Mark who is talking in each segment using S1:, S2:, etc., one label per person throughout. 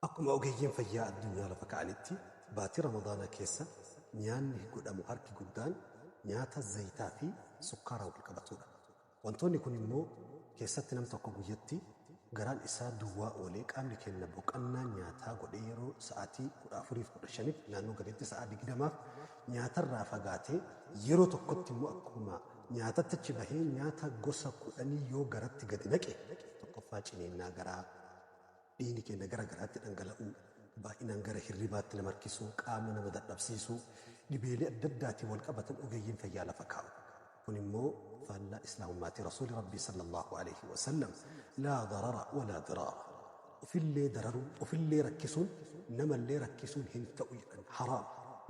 S1: Akkuma ogeeyyiin fayyaa addunyaa lafa ka'anitti baatii Ramadaanaa keessa nyaanni godhamu harki guddaan nyaata zayitaa fi sukkaara wal qabatuudha. Wantoonni kun immoo keessatti nam tokko guyyatti garaan isaa duwwaa oolee qaamni keenna boqannaa nyaataa godhee yeroo sa'aatii 14 fi 15f naannoo galeetti sa'aa 20f nyaatarraa fagaatee yeroo tokkotti immoo akkuma nyaatatti achi bahee nyaata gosa kudhanii yoo garatti gadi naqe tokkoffaa ciniinnaa garaa dhiigni keenya gara garaatti dhangala'uu, baay'inaan gara hirribaatti nama harkisuu, qaama nama dadhabsiisuu, dhibeelee adda addaatiin wal qabatan ogeeyyiin fayyaa lafa kaa'u. Kun immoo faallaa Islaamummaati. Rasuuli Rabbii sallallahu alayhi wa sallam laa darara walaa diraara. Ofillee dararuun, ofillee rakkisuun, namallee rakkisuun hin ta'u jedhan. Haraam.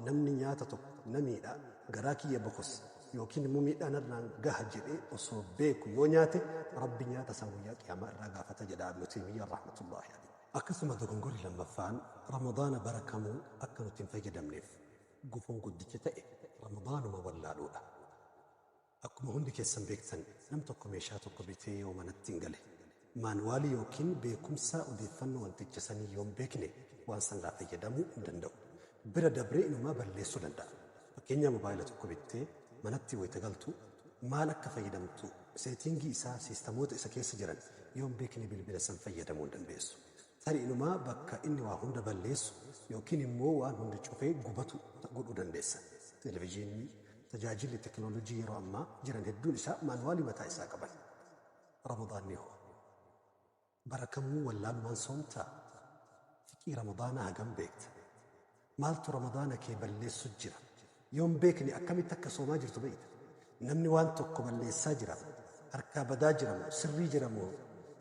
S1: Namni nyaata tokko na miidha, garaa kiyya bokossa, yookiin immoo miidhaa narraan gaha jedhee osoo beeku yoo nyaate rabbi nyaata isaa guyyaa qiyaamaa irraa gaafata jedha ibnu taymiyyaan rahmatullaahi alayhi akkasuma dogongorri lammaffaan ramadaana bara kamuu akka nuti hin fayyadamneef gufuun guddichi ta'e ramadaanuma wallaaluudha akkuma hundi keessan beektan nam tokko meeshaa tokko bitee yoo manatti hin gale Maanuwaalii ykn beekumsa odeeffannoo wanticha sanii yoo hin beekne waan sanirraa fayyadamuu hin danda'u. Bira dabree inumaa balleessuu danda'a. Fakkeenyaa mobaayila tokko bittee manatti wayita galtu maal akka fayyadamtu seetiingii isaa siistamoota isa keessa jiran yoo hin beekne bilbila san fayyadamuu hin dandeessu. Tarii inumaa bakka inni waa hunda balleessu ykn immoo waan hunda cufee gubatu godhuu dandeessa. Televijiinni, tajaajilli teknolojii yeroo ammaa jiran hedduun isaa maanuwaalii mataa isaa qaban. Ramadaanni hoo? Bara kamuu wallaalumaan soomtaa? Fiqii Ramadaanaa hagam beekta? Maaltu Ramadaana kee balleessu jira? Yoo hin beekne akkamitti akka soomaa jirtu beekta? Namni waan tokko balleessaa jira, harkaa badaa jira moo sirrii jira moo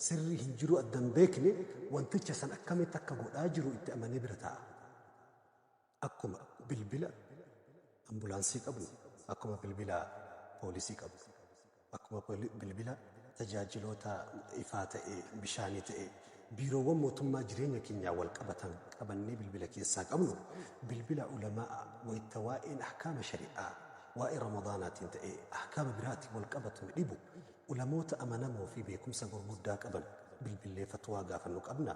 S1: sirrii hin jiruu adda hin beekne wanticha san akkamitti akka godhaa jiru itti amanee bira taa'a. Akkuma bilbila ambulaansii qabnu, akkuma bilbila poolisii qabnu, akkuma bilbila tajaajiloota ifaa ta'ee, bishaanii ta'ee, biiroowwan mootummaa jireenya keenyaa wal qabatan qabannee bilbila keessaa qabnu, bilbila ulama'a wayta waa'een ahkaama shari'aa waa'ee Ramadaanaatiin ta'ee ahkaama biraatiin wal qabatu nu dhibu, ulamoota amanamoo fi beekumsa gurguddaa qaban bilbillee fatwaa gaafannu qabnaa?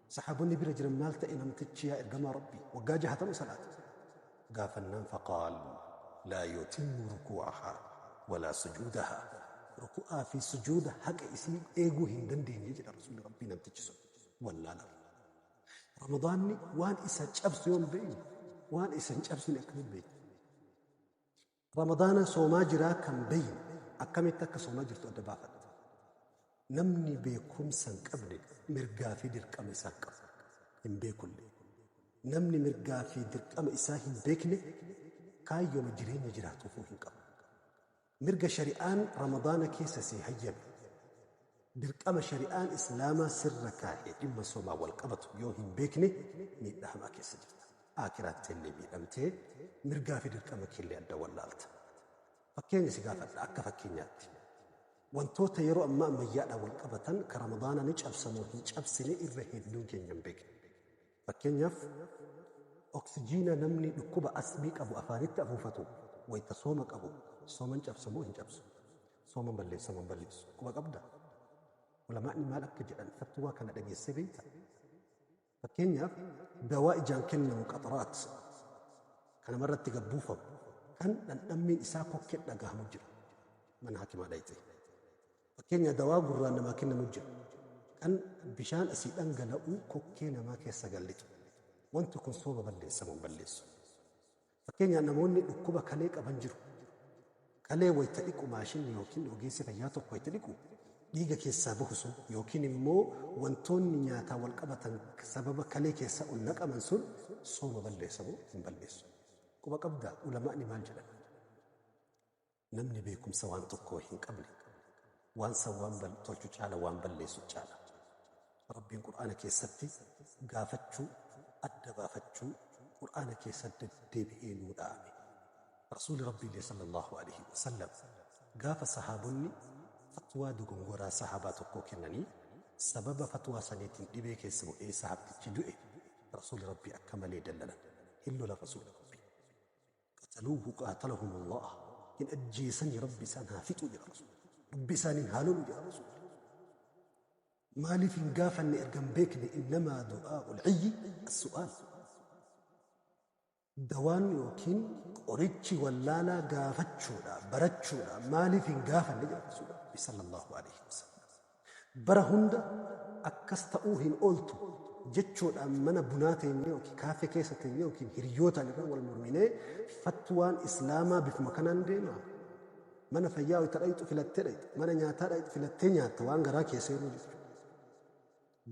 S1: Sahaabonni bira jiran maal ta'e namtichi yaa ergamaa Rabbii waggaa jahatama salaate? gaafannaan faqaaluu laa yutimmu rukuu'ahaa walaa sujuudahaa ruku'aa fi sujuuda haqa isii eeguu hin dandeenye jedha Rasuulli Rabbii namtichi sun wallaalarra. Ramadaanni waan isa cabsu yoon beeyne waan isa hin cabsine akkamiin beeyna? Ramadaana soomaa jiraa kan beeyne akkamitti akka soomaa jirtu adda baafatti. Namni beekumsa hin qabne mirgaa fi dirqama isaa hin qabu. Hin beekullee. Namni mirgaa fi dirqama isaa hin beekne kaayyooma jireenya jiraatuufuu hin qabu. Mirga shari'aan Ramadaana keessa sii hayyame. Dirqama shari'aan Islaamaa sirra kaa'e dhimma somaan wal qabatu yoo hin beekne miidhaa hamaa keessa jirta. Aakhiraattillee miidhamtee, mirgaa fi dirqama keellee adda wallaalta. Fakkeenya si gaafadha akka fakkeenyaatti. Wantoota yeroo ammaa ammayyaadhaan wal qabatan ka Ramadaana ni cabsa moo hin cabsine irra hedduun keenya hin beeknu. Fakkeenyaaf, oksijiina namni dhukkuba asmii qabu afaanitti afuufatu wayita sooma qabu sooman cabsa moo hin cabsu? Sooman balleessa moo hin balleessu? Quba qabdaa? Ulamaa'ni maal akka jedhan fatwaa kana dhageessee beektaa? Fakkeenyaaf, dawaa ijaan kennamu qaxraat ka namarratti gad buufamu kan dhandhammiin isaa kokkeen dhagahamu jira. Mana hakimaa dhayxee. Fakkeenya dawaa gurraan namaa kennanu jira. Kan bishaan asii dhangala'uu kokkee namaa keessa gad lixu. Wanti kun sooba balleessa moo hin balleessu? Fakkeenyaa namoonni dhukkuba kalee qaban jiru. Kalee wayita dhiqu maashinni yookiin ogeessi fayyaa tokko wayita dhiqu dhiiga keessaa bahu sun yookiin immoo wantoonni nyaataa wal qabatan sababa kalee keessa ol naqaman sun sooma balleessa moo hin balleessu? Quba qabdaa ulama'ni maal jedhan? Namni beekumsa waan tokkoo hin qabne waan san waan bal tolchu caala waan balleessu caala. Rabbiin Qur'aana keessatti gaafachuu adda baafachuu Qur'aana keessa deddeebi'ee nuu dhaame. Rasuuli Rabbiillee sallallahu alaihi wasallam gaafa sahaabonni fatwaa dogongoraa sahaabaa tokkoo kennanii sababa fatwaa saniitiin dhibee keessa bu'ee sahaabtichi du'e Rasuuli Rabbii akka malee dallanan hin lola Rasuuli Rabbii. qataluuhu qaatalahum Allah hin ajjeesanii rabbi isaan haa fixuu jedha rasuul rabbi isaaniin haa lolu jedha rasuul maaliif hin gaafanne erga hin beekne innamaa du'aa ulciyyi assu'aal dawaan yookiin qorichi wallaalaa gaafachuudha barachuudha maaliif hin gaafanne jedha rasuul rabbi sallallahu alaihi wasallam Bara hunda akkas ta'uu hin ooltu jechuudhaan mana bunaa teenyee ykn kaaffee keessa teenyee ykn hiriyootaan irra wal morminee fatwaan Islaamaa bifuma kanaan deemaa? Mana fayyaa wayita dhayxu filattee dhayxa, mana nyaataa dhayxu filattee nyaatta waan garaa kee seenuu jechuudha.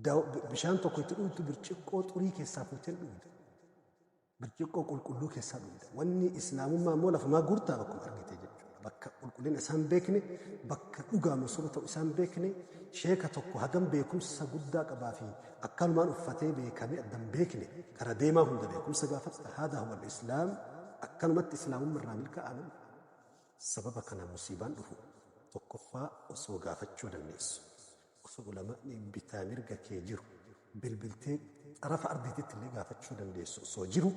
S1: Daw, bishaan tokko itti dhuytu birciqqoo xurii keessaa fuutee hin dhuyda. Birciqqoo qulqulluu keessaa dhugda. Wanni Islaamummaa immoo lafumaa guurtaa bakkuma argite jechuudha. Bakka qulqullina isaan beekne, bakka dhugaa masooba ta'u isaan beekne, sheeka tokko hagam beekumsa guddaa qabaa fi akkanumaan uffatee beekamee addan beekne, kara deemaa hunda beekumsa gaafadha. Haadaa huwal Islaam akkanumatti Islaamumma irraa milkaa'aa namni. Sababa kanaan musiibaan dhufu tokkoffaa osoo gaafachuu dandeessu. Osoo ulama'ni bitaa mirga kee jiru bilbiltee xarafa ardiitittillee gaafachuu dandeessu osoo jiru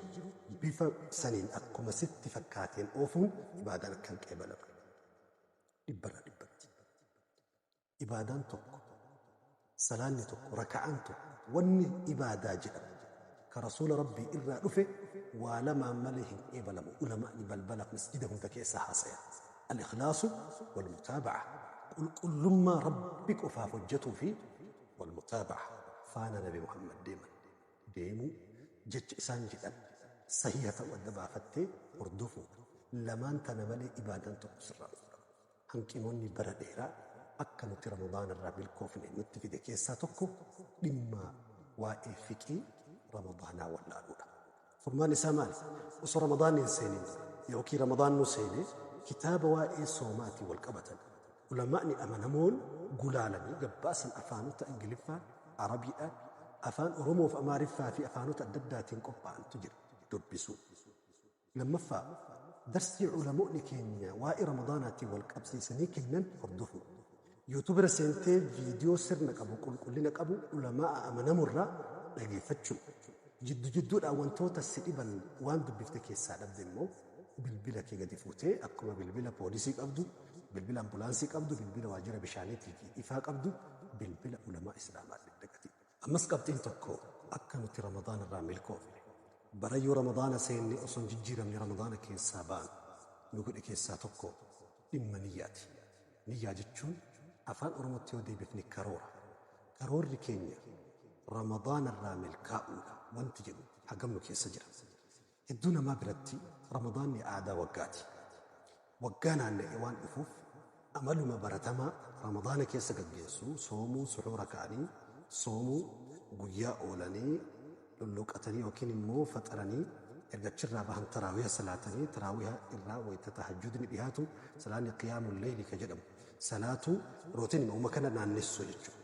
S1: bifa saniin akkuma sitti fakkaateen oofuun ibaadaan akka hin qeebalamne dhibbarra dhibbatti. Ibaadaan tokko, salaanni tokko, raka'aan tokko, wanni ibaadaa jedhamu ka Rasuula Rabbii irraa dhufe waa lamaan malee hin qeebalamu ulama'ni balbala masjida hunda keessa haasayan, Al-ikhlaasu wal-mutaaba'ah, qulqullummaa Rabbi qofaaf hojjatuu fi wal-mutaaba'ah, faana Nabi Muhammad deeman, deemuu, jecha isaan jedhan sahiiha ta'u adda baafattee hordofuudha, lamaan tana malee ibaadaan tokko sirraa hin fudhatamu. Hanqinoonni bara dheeraa akka nuti Ramadaana irraa milkoofne nutti fide keessaa tokko dhimma waa'ee fiqhii Ramadaanaa wallaaluu dha. Furmaanni isaa maali? Osoo Ramadaanni hin seenin dura ykn Ramadaannuu seenee kitaaba waa'ee soomaatiin wal qabatan ulamaa'ni amanamoon gulaalanii gabbaasan afaanota Ingiliffaa, Arabiidhaa, Afaan Oromoo fi Amaariffaa fi afaanota adda addaatiin qophaa'antu jira. Dubbisuu. Lammaffaa, darsii ulamoonni keenya waa'ee Ramadaanaatiin wal qabsiisanii kennan hordofuu. Youtube irra seentee viidiyoo sirna qabu, qulqullina qabu ulamaa'a amanamorraa dhageeffachuu. Jiddu jidduudhaan wantoota si dhiban waan dubbifte keessaa dhabde immoo bilbila kee gadi fuutee akkuma bilbila poolisii qabdu, bilbila ambulaansii qabdu, bilbila waajjira bishaaniitii fi ifaa qabdu bilbila ulamaa Islaamaa dhaqatii. Ammas qabxiin tokko akka nuti Ramadaana irraa milkoofne, barayyuu Ramadaana seenne osoo hin jijjiiramne Ramadaana keessaa baanu nu godhe keessaa tokko dhimma niyyaati. Niyyaa jechuun afaan Oromootti yoo deebifne karoora. Karoorri keenya Ramadaana irraa milkaa'uudha wanti jedhu hagam nu keessa jira? Hedduu namaa biratti Ramadaanni aadaa waggaati. Waggaa naanna'ee waan dhufuuf amaluma baratamaa Ramadaana keessa gaggeessuu, soomuu, suhuura ka'anii soomuu, guyyaa oolanii lulluuqatanii yookiin immoo faxaranii erga achirraa bahan taraawiha salaatanii taraawiha irraa wayta tahajjudni dhihaatu salaanni qiyaamul leeyli ka jedhamu salaatuu rootiinima uma kana naannessu jechuudha.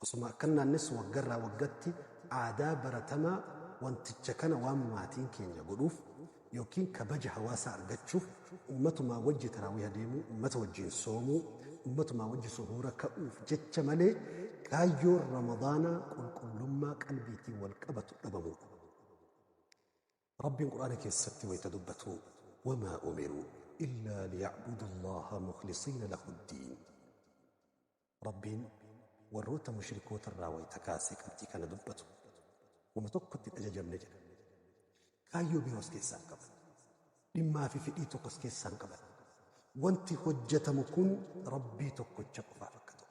S1: Osuma akkan naannessu waggarraa waggatti aadaa baratamaa wanticha kana waan maatiin keenya godhuuf ykn kabaja hawaasaa argachuuf ummatumaa wajji taraawiiha deemuu, ummata wajjiin soomuu, ummatumaa wajji suhuura ka'uuf jecha malee kaayyoon ramadaanaa qulqullummaa qalbiitiin wal qabatu dhabamuudha. Rabbiin Qur'aana keessatti wayta dubbatu wamaa umiruu illaa liya'budu Allaaha mukhlisiina lahuddiin Rabbiin warroota mushrikoota irraa wayta kaasee qabxii kana dubbatu wama tokkotti hin ajajamne jedha kaayyoo biroos keessaa hin qaban dhimmaa fi fedhii tokkos keessaa hin qaban wanti hojjatamu kun Rabbii tokkocha qofaaf akka ta'u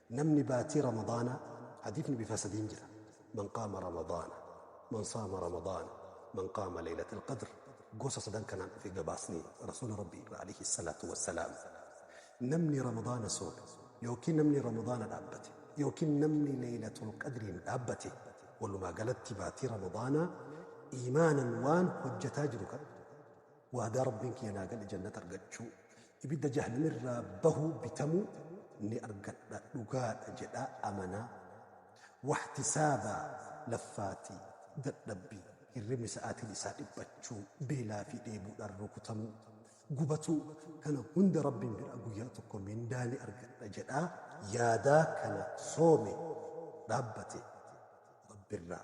S1: Namni baatii ramadaanaa hadiifni bifa sadiin jira man qaama ramadaana man saama ramadaana man qaama leeylatal qadr gosa sadan kanaan dhufe gabaasni rasuula rabbii irraa alayhi salaatu wassalaam namni ramadaana soome yookiin namni ramadaana dhaabbate yookiin namni leeylatul qadriin dhaabbate walumaa galatti baatii ramadaanaa iimaanan waan hojjataa jiru kan waadaa rabbiin kiyya naa gale jannata argachuu Ibidda jahannam irraa bahuu bitamuu ni argadha dhugaadha jedhaa amanaa wahtisaaba laffaatii dadhabbii hirribni sa'aatiin isaa dhiphachuu beelaa fi dheebuudhaan rukutamuu gubatuu kana hunda rabbiin biraa guyyaa tokko mindaa ni argadha jedhaa yaadaa kana soome dhaabbate rabbirraa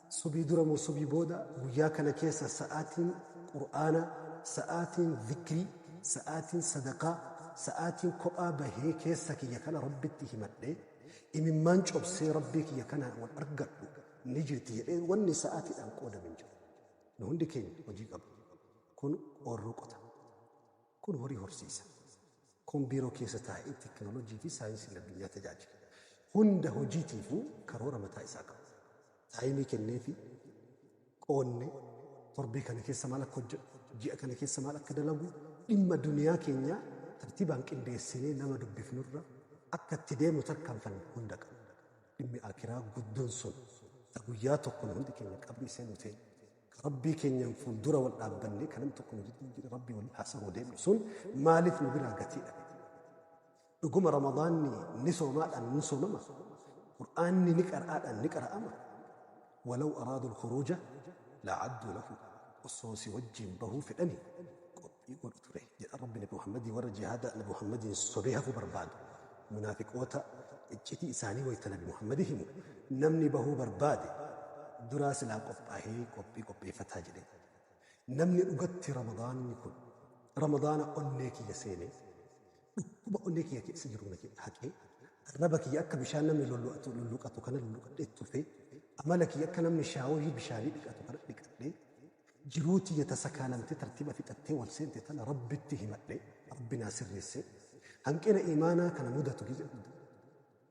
S1: Subii dura moo subii booda guyyaa kana keessa sa'aatiin qur'aana, sa'aatiin zikrii, sa'aatiin sadaqaa, sa'aatiin kophaa bahee keessa kiyya kana Rabbitti himadhee, imimmaan cobsee Rabbii kiyya kanaan wal argadhu ni jirti jedhee wanni sa'aatiidhaan qoodame hin jiru. Nu hundi keenya hojii qabna. Kun oorruqota. Kun horii horsiisa. Kun biiroo keessa taa'ee teknolojii fi saayinsiin addunyaa tajaajila. Hunda hojiitiifuu karoora mataa isaa qaba. Taayimii kenneefi, qoodne, torbee kana keessa maal akka hojjedhu, ji'a kana keessa maal akka dalagu, dhimma duniyaa keenyaa tartiibaan qindeessinee nama dubbifnurra akka itti deemu tarkaanfannu hunda qabna. Dhimmi Aakiraa guddoon sun ta guyyaa tokko nu hundi keenya qabrii seennu teenya. Rabbii keenyaan fuuldura wal dhaabbannee kan namni tokko nu jidduu jira Rabbii waliin haasa'uu deemnu sun maaliif nu biraa gatii dhabe? Dhuguma Ramadaanni ni soomaadhaan ni soomama. Qur'aanni ni qara'aadhaan ni qara'ama. Walaw araadul khuruuja la'adduu lahu osoo si wajjin bahuu fedhanii i godhu ture jedha rabbi nabi muhammadii warra jihaada nabi muhammadiin sobee hafuu barbaadu munaafiqoota iccitii isaanii wayta nabi muhammadi himu namni bahuu barbaade duraa silaa qophaahee qophii qopheeffataa jedhe namni dhugatti ramadaanni kun ramadaana onnee kiyya seenee dhukkuba onnee kiyya keessa jiru na haqee arraba kiyya akka bishaan namni lollu'atu lulluqatu kana lulluqadhee tufee amala kiyya akka namni shaaworii bishaanii dhiqatu kana dhiqadhee Jiruu tiyya tasa kaa namti tartiba fixattee wal seente tana Rabbitti himadhe Rabbi naa sirreesse. Hanqina iimaanaa kana mudatu gize hunda.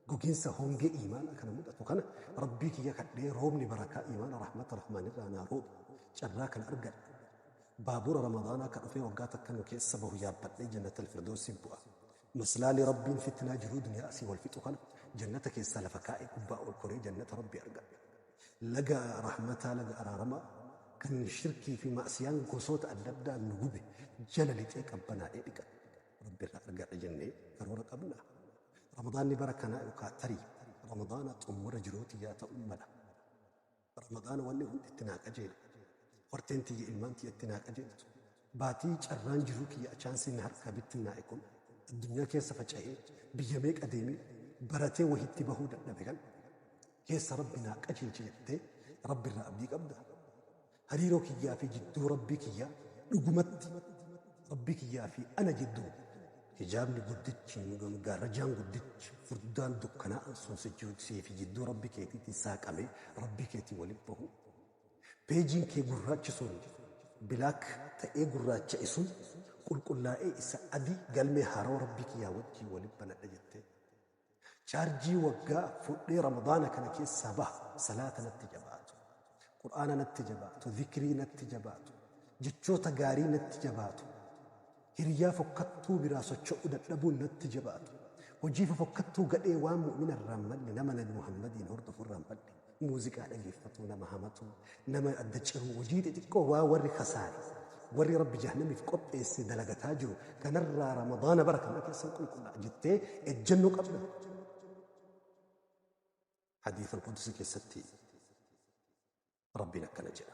S1: Goginsa hongee iimaanaa kana mudatu kana Rabbii kiyya kadhee roobni barakaa iimaana rahmata rahmaanirraa naa roobi carraa kana argadhe. Baabura Ramadaanaa ka dhufee waggaa takka nu keessa bahu yaabbadhee jannatal firdowsiif bu'a. Maslaali Rabbiin fitnaa jiruu duniyaa asii wal fixu kana jannata keessaa lafa kaa'ee gubbaa ol koree jannata Rabbii argadha. Laga rahmataa laga araaramaa kan shirkii fi ma'siyaan gosoota adda addaa nu gube jala lixee qabbanaa'ee dhiqadha. Rabbi irraa argadha jennee karoora qabna. Ramadaanni bara kanaa yookaan tarii Ramadaana xumura jiruu tiyyaa ta'uu mala. Ramadaana wanni hundi itti naa qajeele. Horteen tiyya ilmaan tiyya itti naa qajeeltu. Baatii carraan jiruu kiyya achaansiin na harkaa bittinnaa'e kun addunyaa keessa faca'ee biyya meeqa deemee baratee wahi itti bahuu dadhabe kan keessa Rabbi naa qajeelche jettee Rabbi irraa abdii qabdaa? Hariiroo kiyyaa fi jidduu Rabbii kiyyaa dhugumatti Rabbii kiyyaa fi ana jidduu Hijaabni guddichi yookiin gaarrajaan guddichi furdaan dukkanaa'an sun sichii fi jidduu Rabbi keetiitiin saaqamee Rabbii keetii waliin bahu. Peejiin kee gurraachi sun, black, ta'ee gurraacha'e sun qulqullaa'ee isa adii galmee haarawa Rabbii kiyyaa wajjiin waliin banadha jettee. Charjii waggaa fudhee ramadaana kana keessaa baha salaata natti jabaatu qur'aana natti jabaatu zikrii natti jabaatu jechoota gaarii natti jabaatu hiriyyaa fokkattuu biraa socho'u dadhabuun natti jabaatu hojii fofokkattuu gadhee waan mu'mina irraan madde nama nabi muhammadiin hordofu irraan badhe Muuziqaa dhageeffatuu nama hamatuu, nama adda ciruu, hojii xixiqqoo waa warri kasaare, warri Rabbi jahannamiif qopheesse dalagataa jiru kanarraa Ramadaana bara kana keessan qulqullaa jettee ejjennoo qabda. Hadiisa Alqudusi keessatti Rabbiin akkana jedha.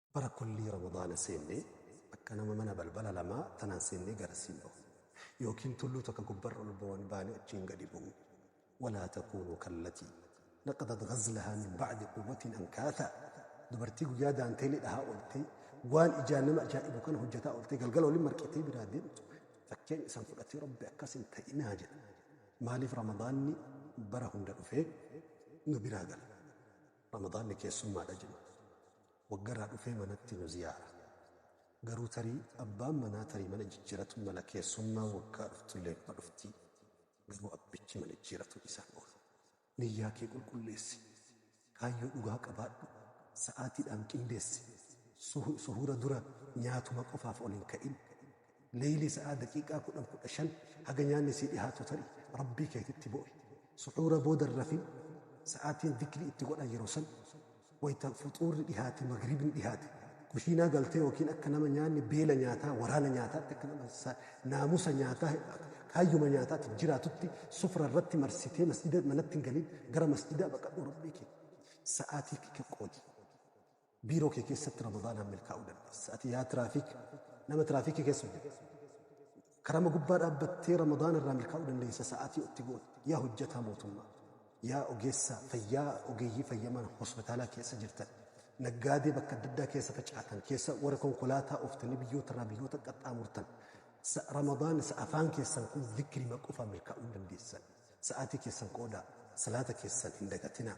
S1: Bara kullii Ramadaana seenne akka nama mana balbala lamaa tanaan seennee garasiin bahu. Yookiin tulluu takka gubbarra ol bawan baane achiin gadi bu'u. Walaa takuunuu kallatii naqadat ghazlahaa min ba'di quwwatin ankaathaa Dubartii guyyaa daanteelii dhahaa ooltee waan ijaan nama ajaa'ibu kana hojjataa ooltee galgala waliin marqitee biraa deemtu fakkeenya isan fudhatii Rabbi akkas hin ta'inaa jedha. Maaliif Ramadaanni bara hunda dhufee nu biraa gala? Ramadaanni keessummaadha jedhu. Waggarraa dhufee manatti nu ziyaara. Garuu tarii abbaan manaa tarii mana jijjiratuu mala keessummaan waggaa dhuftullee numa dhuftii. Garuu abbichi mana jijjiratuu dhiisaan oolu. Niyyaa kee qulqulleessi. Kaayyoo dhugaa qabaadhu. Sa'aatiidhaan qindeessi. Suhuura dura nyaatuma qofaaf ol hin ka'in. Leeylii sa'aa daqiiqaa kudhan kudha shan haga nyaanni sii dhihaatu ta'i Rabbii keetitti boo'i. Suxuura booda hin rafin, sa'aatiin dhikrii itti godhan yeroo san, wayta fuxuurri dhihaate magribni dhihaate, kushiinaa galtee yookiin akka nama nyaanni beela nyaataa, waraana nyaataatti akka nama sa, naamusa nyaataa, kaayyuma nyaataatiif jiraatutti sufra irratti marsitee masjida manatti hin galin, gara masjidaa baqadhuu Rabbii kee sa'aatii kee qoodi. Biiroo kee keessatti Ramadaanaan milkaa'uu dandeessa. Ati yaa tiraafiik nama tiraafiikii keessa hojjetu. Karama gubbaa dhaabbattee Ramadaana irraa milkaa'uu dandeessa sa'aatii otti goone. Yaa hojjetaa mootummaa, yaa ogeessa fayyaa ogeeyyii fayyamaan hospitaalaa keessa jirtan, naggaadee bakka adda addaa keessa facaatan, keessa warra konkolaataa ooftanii biyyoota irraa biyyoota qaxxaamurtan. Sa- Ramadaan isa afaan keessan kun zikrima qofaa milkaa'uu hin dandeessan. Sa'aatii keessan qoodaa, salaata keessan hin dagatinaa.